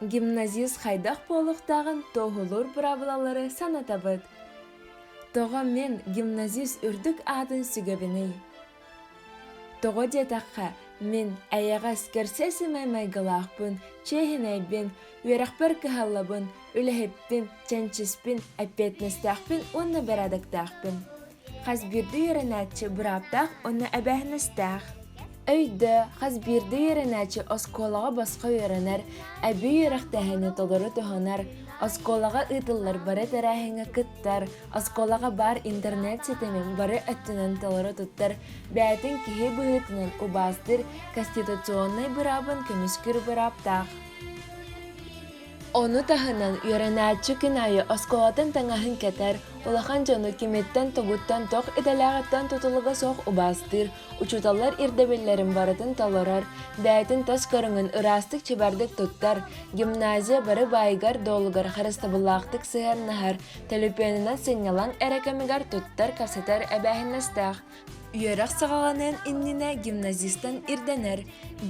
гимназист хайдах буолуохтааҕын тоһулуур быраабылалары санатабыт тоҕо мин гимназист үрдүк аатын сүгэбиний тоҕо диэтэххэ мин эйэҕэс кэрсэсимэй майгылаахпын чиэһинэйбин үөрэхпэр кыһаллабын үлэһиппин чэнчиспин эппиэтинэстээхпин уонна бэрээдэктээхпин Хас биирдии үөрэнээччи бырааптаах уонна эбээһинэстээх. Өйдө, хас биирдии үөрэнээччи оскуолаҕа босхо үөрэнэр, эбии үөрэхтээһини толору туһанар, оскуолаҕа ыытыллар бары тэрээһиҥҥэ кыттар, оскуолаҕа баар интернет ситимин бары өттүнэн толору туттар, бэйэтин киһи быһыытынан убаастыыр конституционнай быраабын көмүскүүр бырааптаах. Ону таһынан, үөрэнээччи күн аайы оскуолатын таҥаһын кэтэр, улахан дьону кимиттэн-тугуттан тох идэлээҕиттэн тутулуга суох убаастыыр, учууталлар ирдэбиллэрин барытын толорор, бэйэтин тос көрүҥүн ыраастык чэбэрдик туттар, гимназия бары баайыгар-дуолугар харыстабыллаахтык сыһыаннаһар, төлөпүөнүнэн сынньалаҥ эрэ кэмигэр туттар-касатар эбээһинэстээх. Үөрэх саҕаҕаныан иннинэ гимназистан ирдэнэр.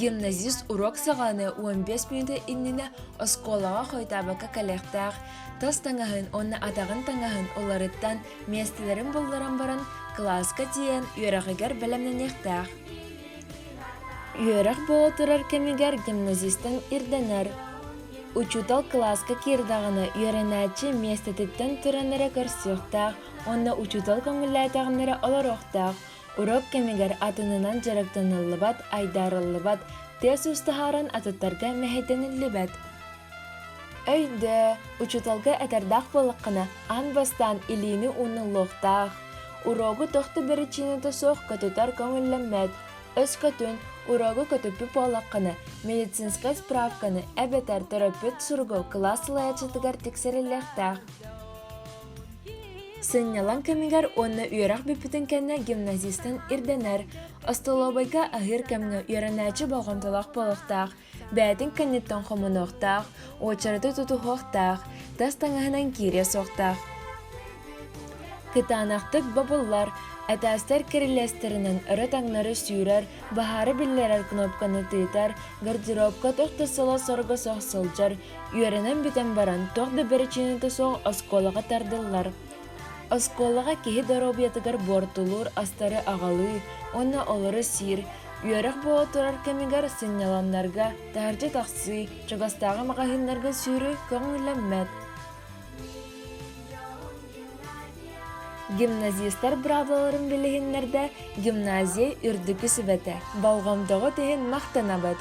Гимназист уруок саҕаны уон биэс мүнүүтэ иннинэ оскуолаҕа хойтаабакка кэлиэхтээх. Тас таҥаһын уонна атаҕын таҥаһын уларыттан миэстэлэрин булларан баран кылааска тиийэн үөрэҕигэр бэлэмнэниэхтээх. Үөрэх буола турар кэмигэр гимназистан ирдэнэр. Учуутал кылааска киирдэҕинэ үөрэнээччи миэстэтиттэн туран эрэ көрсүөхтээх, уонна учуутал көҥүллээтэҕиннэрэ олоруохтаах уруок кэмигэр атынынан дьарыктаныллыбат айдаарыллыбат тыас үс таһааран атыттарга мэһэйдэниллибэт өйдөө учууталга этэрдээх буолаххына аан бастаан илиини ууннуллуохтаах уруогу тохту биричиинэтэ суох көтүтэр көҥүллэммэт өскөтүн уруогу көтүппүт буолаххына медицинскай справканы эбэтэр төрөппүт суругу кылаас салайааччытыгар тиксэриллиэхтээх Сынньалаҥ кэмигэр уонна үөрэх бүппүтүн кэннэ гимназистан ирдэнэр, остолобуйга аһыыр кэмҥэ үөрэнээччи болҕомтолоох буолуохтаах, бэйэтин кэнниттэн хомунуохтаах, уочараты тутуһуохтаах, тас таҥаһынан киириэ суохтаах. Кытаанахтык бобуллар, этээстэр кирилиэстэринэн өрө-таҥнары сүүрэр, баһаары биллэрэр кнопканы тыытар, гардеробка тохто сыла-сорго сох сылдьар, Үөрэнэн бүтэн баран туох да бэрэчиэнэтэ суох оскуолаҕа тардыллар. Оскуолаҕа киһи доруобуйатыгар буортулуур астары аҕалыы уонна олору сиир, үөрэх буола турар кэмигэр сынньалаҥнарга, таһырдьа тахсыы, чугастааҕы маҕаһыыннарга сүүрүү көҥүллэммэт. Гимназистар быраабылаларын билиһиннэрдэ гимназия үрдүкү сүбэтэ, болҕомтоҕут иһин махтанабыт!